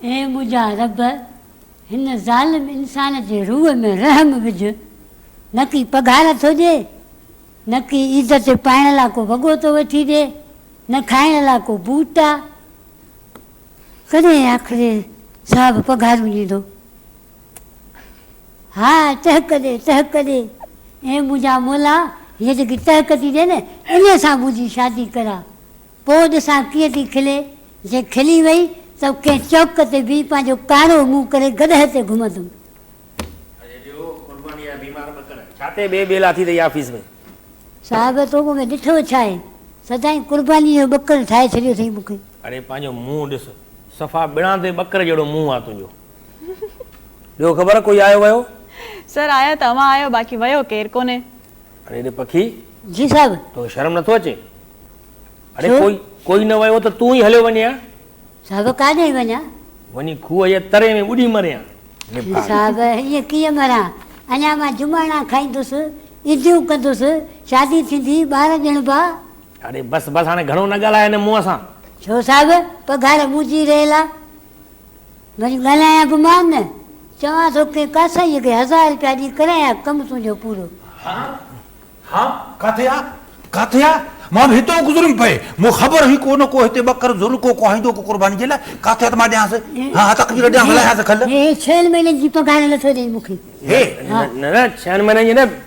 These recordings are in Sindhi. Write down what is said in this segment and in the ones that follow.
اي منهنجا رب! هن ظالم انسان جي روح ۾ رحم وجهه، نه ڪي پگهار ٿو ڏئي، نه ڪي عيد تي پائڻ لاء ڪو وڳو ٿو وٺي ڏئي، نه کائڻ لاء ڪو بوٽ آ. ڪڏهن آخري صاحب پگهارون ڏيندو؟ ها ٽهڪ ڏي، ٽهڪ ڏي. اي منهنجا مولا، هيء جيڪي ٽهڪ ٿي ڏي نه، انهيء سان منهنجي شادي ڪراء. پوء ڏسان ڪيئن ٿي کلي. جي کلي وئي ته ڪنهن چوڪ تي بيهي پنهنجو ڪارو منهن ڪري گڏهه تي گهمندم. ڇا تي ٻي ٻيلا ٿي اٿئي آفيس ۾؟ صاحب تو مون ۾ ڏٺو ڇا آهي؟ سدائين قربانيء جو ٻڪر ٺاهي ڇڏيو اٿئي مون کي. اڙي پنهنجو منهن ڏس. صفا ٻڻان تي ٻڪر جهڙو منهن آ تنهنجو. ٻيو خبر ڪوئي آيو ويو. سر آيا ته اوهان آهيو باقي ويو ڪير ڪونهي. اڙي ڙي پکي. جي صاحب. توکي شرم نٿو اچي. اڙي ڪوئي ڪوئي نه ويو ته تون ئي هليو وڃين ها. صاحب ڪاڏهين وڃان. وڃي کوهه جي تري ۾ ٻڏي مرين ها. نڀاڳ. صاحب ائين ڪيئن مران اڃا مان جماڻا کائيندس عيديون ڪندس شادي ٿيندي ٻار ڄڻبا. اڙي بس بس هاڻي گهڻو نه ڳالهاء هن منهن سان. ڇو صاحب پگهار منهنجي رهيل آ. وڃ ڳالهايان به مان نه، چوان ٿو ڪنهن ڪاسائيء کي هزار رپيا ڏي ڪرايان ڪم تنهنجو پورو. ها ها ڪاٿي آ ڪاٿي آ مان به هتان گذريم پئي مون خبر هئي ڪو نه ڪو هتي ٻڪر ضرور ڪو ڪوهائيندو ڪو قرباني جي لاء ڪاٿي آ ته مان ڏيانس ها ها تقدير ڏيانس لهيانس کل. هي ڇهن مهينن جي پگهار نٿو ڏئي مون کي. هي. نه نه ڇهن مهينن جي نه.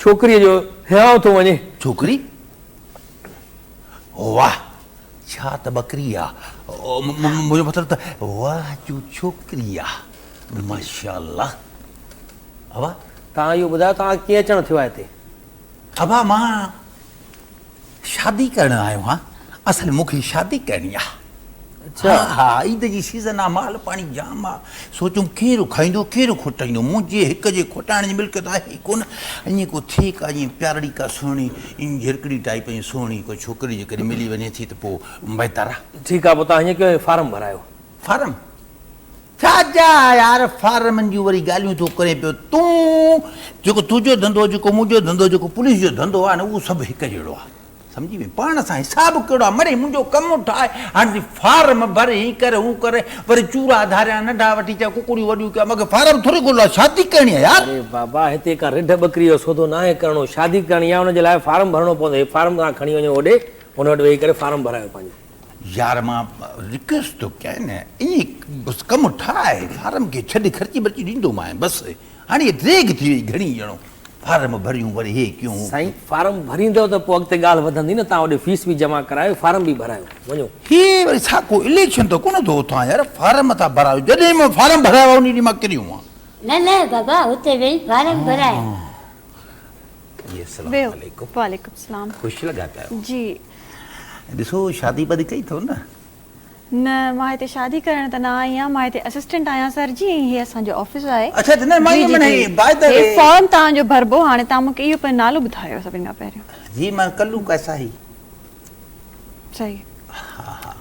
ڇوڪريء جو هيانء ٿو وڃي. ڇوڪري؟ واهه ڇا ته ٻڪري آ. منهنجو مطلب ته واهه جو ڇوڪري آ. ماشاءالله. ابا! توهان اهو ٻڌايو توهان کي ڪيئن اچڻ ٿيو آ هتي؟ ابا مان شادي ڪرڻ آيو آهيان اصل مون کي شادي ڪرڻي آ اچا ها عيد جي سيزن آ مال پاڻي جام آ سوچيم ڪير کائيندو ڪير کوٽائيندو منهنجي هڪ جي کوٽائڻ جي ملڪيت آهي ئي ڪونه ائين ڪو ٿئي ڪا جيئن پيارڙي ڪا سهڻي ائين جهرڪڙي ٽائيپ ائين سهڻي ڪو ڇوڪري جيڪڏهن ملي وڃي ٿي ته پوء بهتر آ ٺيڪ آ پوء توهان ائين ڪيو ۽ فارم ڀرايو. فارم ڇا جا يار فارمن جون وري ڳالهيون ٿو ڪرين پيو تون جيڪو تنهنجو ڌنڌو جيڪو منهنجو ڌنڌو جيڪو پوليس جو ڌنڌو آهي نه اهو سڀ هڪ جهڙو آهي سمجهي وئي پاڻ سان حساب ڪهڙو آهي مڙي منهنجو ڪم ٺاهي هاڻي فارم ڀر هي ڪر هو ڪر وري چورا ڌاريان ننڍا وٺي چا ڪڪڙيون وڏيون ڪيا مگر فارم ٿوري ڳولا شادي ڪرڻي آهي يار اري بابا هتي ڪا رڍ ٻڪري جو سودو ناهي ڪرڻو شادي ڪرڻي آهي ان جي لاء فارم ڀرڻو پوندو هي فارم توهان کڻي وڃو هوڏي ان وٽ ويهي ڪري فارم ڀرايو پنهنجو. يار مان رڪويسٽ ٿو ڪيان ايئن بس ڪم ٺاهه فارم کي ڇڏ خرچي برچي ڏيندومانء بس هاڻي ديگ ٿي وئي گهڻي ڄڻو فارم ڀريون وري هي ڪيون هو سائين فارم ڀريندؤ ته پوء اڳتي ڳالهه وڌندي نه تان هوڏي فيس به جمع ڪرايو فارم به ڀرايو وڃو. هي وري ڇا ڪو اليڪشن ته ڪونه ٿو اٿان يار فارم ٿا ڀرايو جڏهن مان فارم ڀرايا هئا انهي ڏينهن مان ڪريون هئا. نه نه بابا اتي ويهي فارم ڀرايا. جي اسلام عليڪم خوش لڳا پيا جي. ڏسو شادي ٻڌي ڪئي اٿو نه؟ نه مان هتي شادي ڪرڻ ته نه آئي آهيان مان هتي اسسٽنٽ آهيان سر جي ۽ هي اسان جو آفيس آهي. اڇا جنرل مان ايم اين هي باء دا وي. هي فارم توهان جو ڀربو هاڻي توهان مون کي اهو پنهنجو نالو ٻڌايو سڀني کان پهريون. جي مان ڪلو ڪيسا هي. صحيح ها ها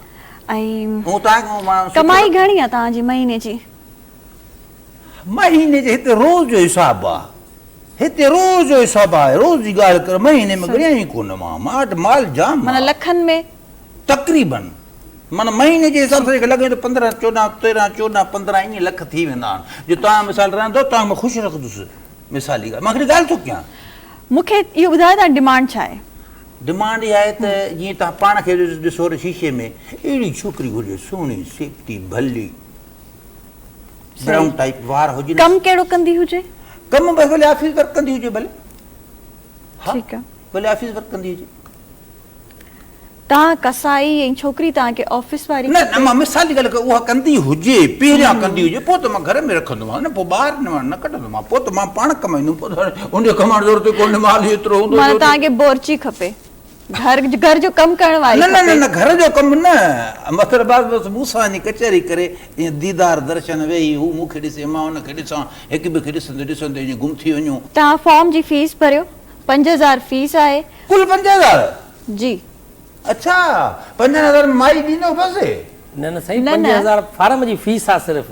۽ ڪمائي گهڻي آهي توهان جي مهيني جي. مهيني جي هتي روز جو حساب آ هتي روز جو حساب آ روز جي ڳالهه ڪر مهيني ۾ ڳڻيا ئي ڪونه مان مان وٽ مال جام معنيٰ لکن ۾ تقريباً معنيٰ مهيني جي حساب سان لڳي ٿو پندرهن چوڏهن تيرهن چوڏهن پندرهن ائين لک ٿي ويندا آهن جو توهان مثال رهندو توهان مان خوش رکندس مثال جي ڳالهه مان هڪڙي ڳالهه ٿو ڪيان مون کي اهو ٻڌايو توهان جي ڊمانڊ ڇا آهي ڊمانڊ اها آهي ته جيئن توهان پاڻ کي ڏسو ته شيشي ۾ اهڙي ڇوڪري گهرجي سهڻي سيٽي ڀلي براؤن ٽائيپ وار هجنس ڪم ڪهڙو ڪندي هجي ڪم بس ڀلي آفيس ورڪ ڪندي هجي ڀلي ها ٺيڪ آ ڀلي آفيس ورڪ ڪندي هجي تان قصائي ۽ ڇوڪري تان کي آفيس واري نه نه مان مثال جي ڳالهه اها ڪندي هجي پهريان ڪندي هجي پوء ته مان گهر ۾ رکندو مان نه پوء ٻاهر نه ڪڍندو مان پوء ته مان پاڻ ڪمائيندو ان کي ڪمائڻ ضرورت ڪونهي مال ايترو هوندو مان تان کي بورچي کپي گهر گهر جو ڪم ڪرڻ واري نه نه نه گهر جو ڪم نه مطلب بعد بس مون سان وڃي ڪچهري ڪري ائين ديدار درشن ويهي هو مون کي ڏسي مان هن کي ڏسان هڪ ٻئي کي ڏسندي ڏسندي ائين گم ٿي وڃون. توهان فارم جي فيس ڀريو پنج هزار فيس آهي. ڪل پنج هزار؟ جي. اڇا پنجن هزارن ۾ مائي ڏيندو بس. نه نه سائين پنج هزار فارم جي فيس آ صرف.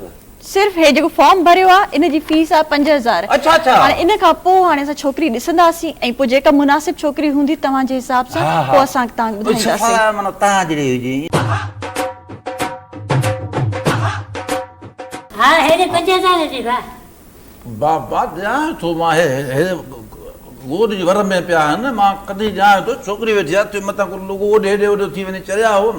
صرف هي جيڪو فارم ڀريو آ ان جي فيس آ پنج هزار اڇا اڇا. هاڻي ان کان پو هاڻي اسان ڇوڪري ڏسنداسين ۽ پو جيڪا مناسب ڇوڪري هوندي توهان جي حساب سان ها ها پو اسان توهان کي ٻڌائينداسين. اڇا سالار معنيٰ توهان جهڙي هجي. ها هيڏي پنج هزار جي با. با با ڄاڻان ٿو مان هي هي گوڏ جي ور ۾ پيا آهن مان ڪڏهن ڄاڻان ٿو ڇوڪري ويٺي آ تنهن مٿان ڪو لوگو اوڏي هيڏي اوڏو ٿي وڃي چريا هون.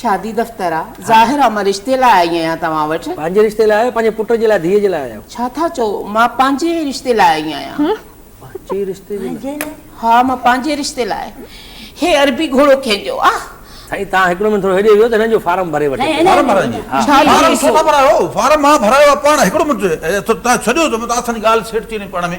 شادي دفتر آ ظاهر آ مان رشتي لاء آئي آهيان توهان وٽ. پنهنجي رشتي لاء آيو پنهنجي پٽ جي لاء ڌيء جي لاء آيا آهيو. ڇا ٿا چئو مان پنهنجي رشتي لاء آئي آهيان. پنهنجي رشتي جي لاء. ها مان پنهنجي رشتي لاء هي عربي گهوڙو ڪنهن جو آ. سائين تان هڪڙو منٽ ٿورو هيڏي ويهو ته هنن جو فارم ڀري وٺي اچو. فارم ڀرائڻ جي ها. فارم ڇو ٿا ڀرايو فارم مان ڀرايو آ پاڻ هڪڙو منٽ تان ڇڏيو ته مان تان سان ڳالهه سيٽ ٿي وڃي پاڻ ۾.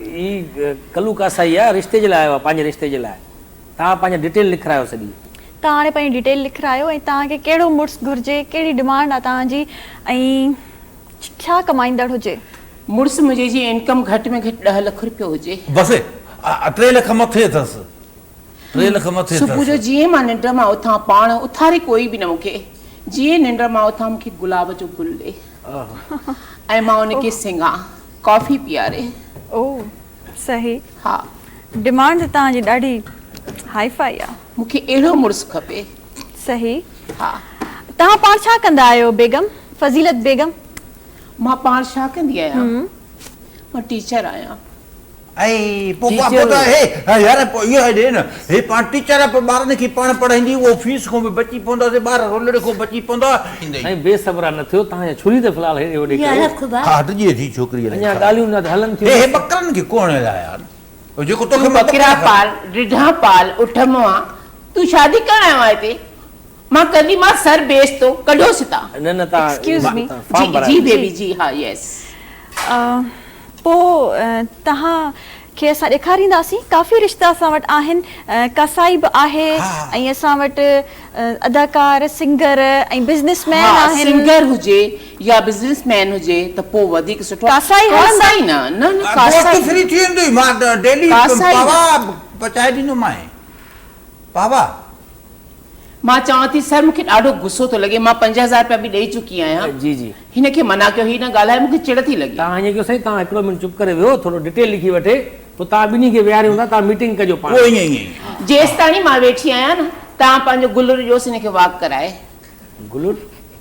هي ڪلو ڪاسائي آ رشتي جي لاء آيو آ پنهنجي رشتي جي لاء توهان پنهنجي ڊيٽيل لکرايو سڄي. توهان هاڻي پنهنجي ڊيٽيل لکرايو ۽ توهان کي ڪهڙو مڙس گهرجي ڪهڙي ڊمانڊ آ توهان جي ۽ ڇا ڪمائيندڙ هجي. مڙس منهنجي جي انڪم گهٽ ۾ گهٽ ڏهه لک رپيو هجي. بس ٽي لک مٿي اٿس ٽي لک مٿي اٿس. صبح جو جيئن مان ننڊ مان اٿان پاڻ اٿاري ڪوئي به نه مون کي جيئن ننڊ مان اٿان مون کي گلاب جو گل ڏي ۽ مان ان کي سنگهان. ڪافي پياري. او صحي. ها. ڊمانڊ هتان جي ڏاڍي هائي فائي آ. مون کي اهڙو مڙس کپي. صحي. ها. توهان پاڻ ڇا ڪندا آهيو بيگم؟ فضيلت بيگم. مان پاڻ ڇا ڪندي آهيان؟ مان ٽيچر آهيان. ۽ پوء پوء ٽيچر. يار پوء اهو ڏي نه. هي پاڻ ٽيچر آهي پوء ٻارن کي پاڻ پڙهائيندي اهو فيس کان به بچي پوندا سي ٻار رولڙي کان بچي پوندا. سائين بي صبرا نه ٿيو توهان جا ڇري ته في الحال هيڏي هوڏي ڪريو. ها هٽ جي ٿي ڇوڪري الائي ڇا. اڃا ڳالهيون نه هلن ٿيون. هي ٻڪرن کي ڪو هڻي لاء يار جيڪو توکي مان ٻڪرا کڻي. پال رڍا پال اٺ مئا تون شادي ڪرڻ آيو آهي هتي مان ڪندي مان سر بيس تو ڪڍوس هتان. نه نه تان ايڪسڪيوز مي جي جي بيبي جي ها يس. پوء توهان کي اسان ڏيکارينداسين. ڪافي رشتا اسان وٽ آهن. ڪاسائي به آهي ۽ اسان وٽ اداڪار، سنگر ۽ بزنس مين ها آهن. سنگر هجي يا بزنس مين هجي ته پوء وڌيڪ سٺو. ڪاسائي هلندا. ڪاسائي نه، نه نه ڪاسائي. گوشت فري ٿي ويندوئي مان ڊيلي ڪاسائي نه. پوا پچائي ڏيندومانء. بابا! مان چوان ٿي، سر مون کي ڏاڍو غصو ٿو لڳي، مان پنج هزار رپيا به ڏئي چڪي آهيان. جي جي. هن کي منع ڪيو، هي نه ڳالهائي، مون کي چڙ ٿي لڳي. تان ائين ڪيو سائين، تان هڪڙو منٽ چپ ڪري ويهو، ٿورو ڊٽيل لکي وٺي، پوء تان ٻنهي کي ويهاريون ٿا، تان ميٽنگ ڪجو پاڻ. پوء ائين ائين. جيستاڻي مان ويٺي آهيان نه، تان پنهنجو گلر ڏيوس هن کي واڪ ڪرائي. گلر؟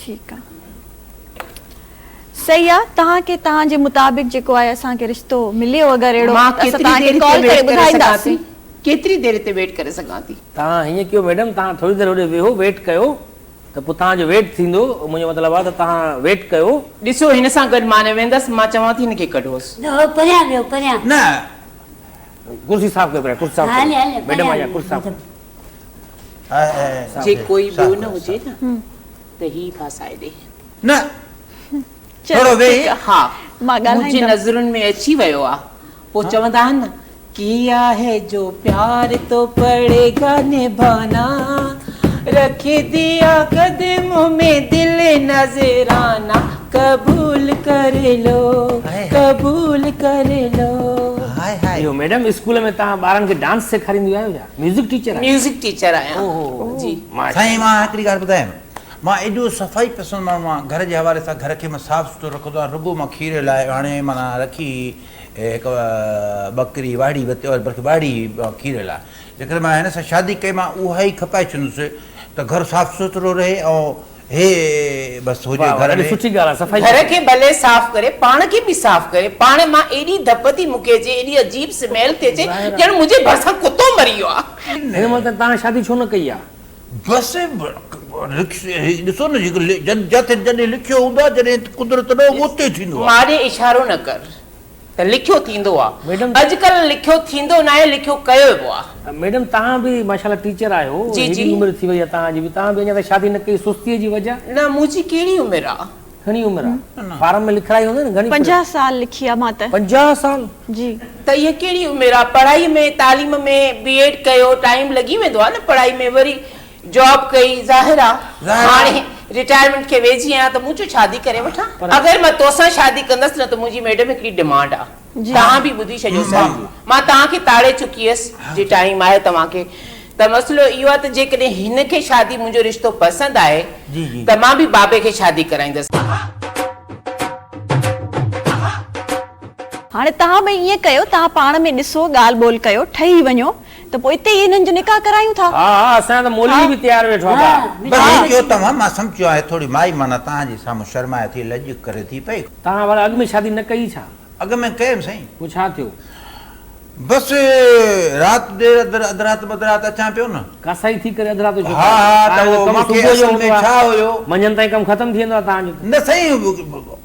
ٺيڪ آ صحيح آ توهان کي توهان جي مطابق جيڪو آهي اسان کي رشتو مليو اگر اهڙو ته اسان توهان کي ڪال ڪري ٻڌائينداسين. ڪيتري دير هتي ويٽ ڪري سگهان ٿي. توهان هيئن ڪيو ميڊم توهان ٿوري دير هوڏي ويهو ويٽ ڪيو ته پوء توهان جو ويٽ ٿيندو منهنجو مطلب آ ته توهان ويٽ ڪيو. ڏسو هن سان گڏ مان نه ويندس مان چوان ٿي هن کي ڪڍوس. نه پريان ويهو پريان. نه ڪرسي صاف ڪريو پريان ڪرسي صاف ڪريو ميڊم آئي آ ڪرسي صاف ڪريو. جي ڪوئي ٻيو نه هجي نه ته هي ڦاسائي ڏي. نه ٿورو ويهي. ها منهنجي نظرن ۾ اچي ويو آ. پوء چوندا آهن نه. ڪيا هي جو پيار تو پڙي گا نڀانا رک ديا قدمون مين دل نذرانا قبول ڪري لو قبول ڪري لو. اهو ميڊم اسڪول ۾ توهان ٻارن کي ڊانس سيکارينديون آهيو ڇا؟ ميوزڪ ٽيچر آهيو؟ ميوزڪ ٽيچر آهيان او هو هو جي. سائين مان هڪڙي ڳالهه ٻڌايم مان ايڏو صفائي پسند ماڻهو آهيان گهر جي حوالي سان گهر کي مان صاف سٿرو رکندو آهيان رڳو مان کير لاء هاڻي معنيٰ رکي هڪ ٻڪري واڙهي بلڪه واڙهي مان کير لاء جيڪڏهن مان هن سان شادي ڪئي مان اها ئي کپائي ڇڏندس ته گهر صاف سٿرو رهي ۽ هي بس هجي گهر ۾. گهر کي ڀلي صاف ڪري پاڻ کي به صاف ڪري پاڻ مان ايڏي ڌپ ٿي مونکي اچي ايڏي عجيب سميل ٿي اچي ڄڻ منهنجي ڀرسان ڪتو مري ويو آ. بس ڏسو نه جڏهن لکيو هوندو آ جڏهن قدرت نه هوندو آ اتي ٿيندو آ. ماڏي اشارو نه ڪر. ته لکيو ٿيندو آ. ميڊم. اڄڪلهه لکيو ٿيندو ناهي لکيو ڪيويبو آ. ميڊم توهان به ماشاء الله ٽيچر آهيو جي جي. هيڏي عمر ٿي وئي آ توهان جي به توهان به اڃا تائين شادي نه ڪئي سستيء جي وجه. نه منهنجي ڪهڙي عمر آ. گهڻي عمر آ فارم ۾ لکرائي هوندي نه گهڻي. پنجاهه سال لکي آ مان ته. پنجاهه سال. جي. ته اها ڪهڙي عمر آ پڙهائي ۾ تعليم ۾ بي ايڊ ڪيو ٽائيم لڳي ويندو آ نه پڙهائي ۾ وري. جاب ڪئي ظاهر آ هاڻي رٽائرمينٽ کي ويجهي آهيان ته مون چيو شادي ڪري وٺان اگر مان توسان شادي ڪندس نه ته منهنجي ميڊم هڪڙي ڊمانڊ آ توهان به ٻڌي ڇڏيو صاحب مان توهان کي تاڙي چڪي هيس جي ٽائيم آهي توهان کي ته مسئلو اهو آ ته جيڪڏهن هن کي شادي منهنجو رشتو پسند آهي ته مان به بابي کي شادي ڪرائيندس. هاڻي توهان ٻئي ائين ڪيو توهان پاڻ ۾ ڏسو ڳالهه ٻولهه ڪيو ٺهي وڃو. ته پوء اتي ئي انهن جو نڪاح ڪرايون ٿا. ها ها اسان جا ته مولوي به تيار ويٺا ٿا. بس هي چيو توهان مان سمچيو آهي ٿوري مائي معنيٰ توهان جي سامهون شرمائي ٿي لڄ ڪري ٿي پئي. توهان ڀلا اڳ ۾ شادي نه ڪئي ڇا؟ اڳ ۾ ڪيم سائين. پوء ڇا ٿيو؟ بس رات دير اڌ اڌ رات به اڌ رات اچان پيو نه. ڪاسائي ٿي ڪري اڌ رات جو ڇو ٿا اچو؟ ها ها ته هو مون کي اصل ۾ ڇا هيو. منجهند تائين ڪم ختم ٿي ويندو آهي توهان جو ته. نه سائين.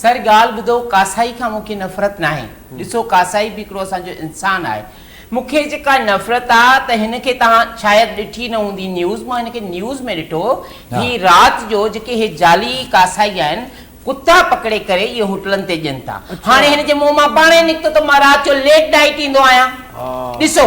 سر ڳالهه ٻڌو ڪاسائي کان مونکي نفرت ناهي ڏسو ڪاسائي به هڪڙو اسان جو انسان آهي مونکي جيڪا نفرت آ ته هن کي توهان شايد ڏٺي نه هوندي نيوز مان هن کي نيوز ۾ ڏٺو هي رات جو جيڪي هي جعلي ڪاسائي آهن ڪتا پڪڙي ڪري اهي هوٽلن تي ڏين ٿا هاڻي هن جي منهن مان پاڻهي نڪتو ته مان رات جو ليٽ نائيٽ ايندو آهيان ڏسو.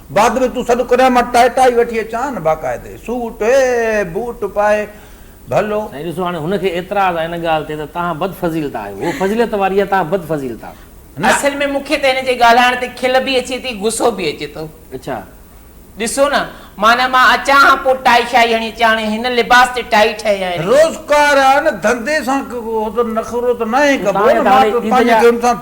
بعد ۾ تون سڏ ڪريان مان ٽائٽائي وٺي اچان باقاعدي سوٽ اي بوٽ پائي ڀلو. سائين ڏسو هاڻي هن کي اعتراض آهي ان ڳالهه تي ته توهان بد فضيلت آهيو هوء فضيلت واري آهي توهان بد فضيلت آهيو. اصل ۾ مون کي ته هن جي ڳالهائڻ تي کل به اچي ٿي غصو به اچي ٿو. اڇا. ڏسو نه معنيٰ مان اچان ها پوء ٽائي شائي هڻي اچان هاڻي هن لباس تي ٽائي ٺهي ها اهڙي. روزگار آهي نه ڌنڌي سان نخرو ته ناهي ڪبو نه مان ته پنهنجي گيم سان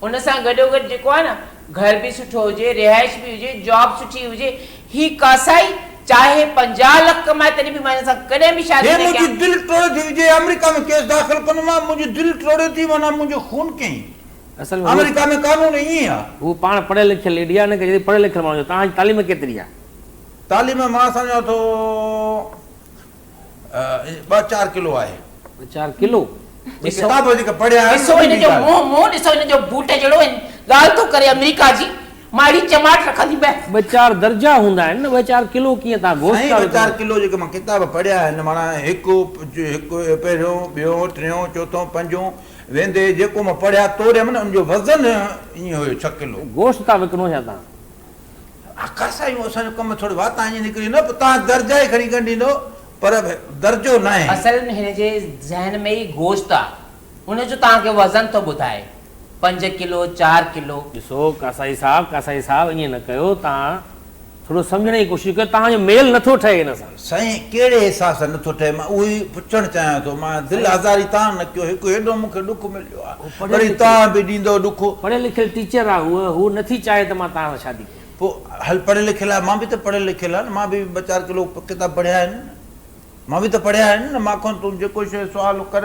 ان سان گڏو گڏ جيڪو آهي نه گهر به سٺو هجي رهائش به هجي جاب سٺي هجي هي ڪاسائي چاهي پنجاهه لک ڪمائي تڏهن به مان هن سان ڪڏهن به شادي هي نه منهنجي ڪيان. دل ٽوڙي ٿي وجي آمريڪا ۾ ڪيس داخل ڪندو مان منهنجي دل ٽوڙي ٿي معنيٰ منهنجو خون ڪئين اصل ۾ هو آمريڪا ۾ قانون ائين آ. هو پاڻ پڙهيل لکيل ليڊي آ ان ڪري چويٿي پڙهيل لکيل ماڻهو جو توهان جي تعليم ڪيتري آ. تعليم مان سمجهان ٿو ٻه چار ڪلو آهي. ٻه چار ڪلو؟ جي ڪتاب وڌيڪ پڙهي آيم. ڏسو هن جو منهن، منهن ڏسو هن جو بوٽ جهڙو ۽ ڳالهه ٿو ڪري آمريڪا جي. مان اهڙي چماٽ رکندي به. ٻه چار درجا هوندا آهن نه، ٻه چار ڪلو ڪيئن تان گوشت ٿا وڪڻو. سائين ٻه چار ڪلو جيڪي مان ڪتاب پڙهيا آهن معنيٰ هڪ هڪ پهريون ٻيون ٽيون چوٿون پنجون ويندي جيڪو مان پڙهيا توريم نه ان جو وزن ائين هيو ڇهه ڪلو. گوشت ٿا وڪڻو ڇا تان؟ آخر سائين اسان جو ڪم ٿوري وات آنهي نڪري نه پوء توهان درجا ئي کڻي ڳنڍيندو پر به درجو ناهي. اصل ۾ هن جي ذهن ۾ ئي گوشت آ ان جو توهان کي وزن ٿو ٻڌائي پنج ڪلو چار ڪلو. ڏسو قاصائي صاحب قاصائي صاحب ائين نه ڪيو توهان ٿورو سمجهڻ جي ڪوشش ڪيو توهان جو ميل نٿو ٺهي هن سان. سائين ڪهڙي احساس سان نٿو ٺهي مان اهو ئي پڇڻ چاهيان ٿو مان دل آزاري تان نه ڪيو هڪ هيڏو مون کي ڏک مليو آ وري توهان به ڏيندؤ ڏک. پڙهيل لکيل ٽيچر آ هوء هوء نٿي چاهي ته مان توهان سان شادي ڪيان. پوء هل پڙهيل لکيل آهي مان به ته پڙهيل لکيل آهي نه مان به ٻه چار ڪلو ڪتاب پڙهيا آهن نه مان به ته پڙهيا آهن نه مان کان تون جيڪو شيء سوال ڪر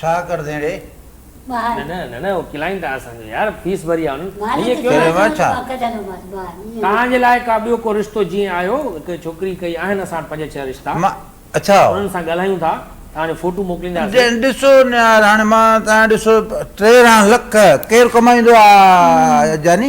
ڇا ڪر ڌيڻي. ٻاهر. نه نه نه اهو ڪلائنٽ آهي اسان جو يار فيس ڀري آهي انهن. مالڪ هيء ڪيو چيو نه. ته پڪ جهلو ماس ٻاهر ائين نه. توهان جي لاء ڪا ٻيو ڪو رشتو جيئن آهيو هڪ ڇوڪري ڪئي آهن اسان وٽ پنج ڇهه رشتا. مان، اڇا. انهن سان ڳالهايون ٿا توهان جو فوٽو موڪلينداسين. ڏسو نهار هاڻي مان توهان ڏسو ٽيرنهن لک ڪير ڪمائيندو آ جاني.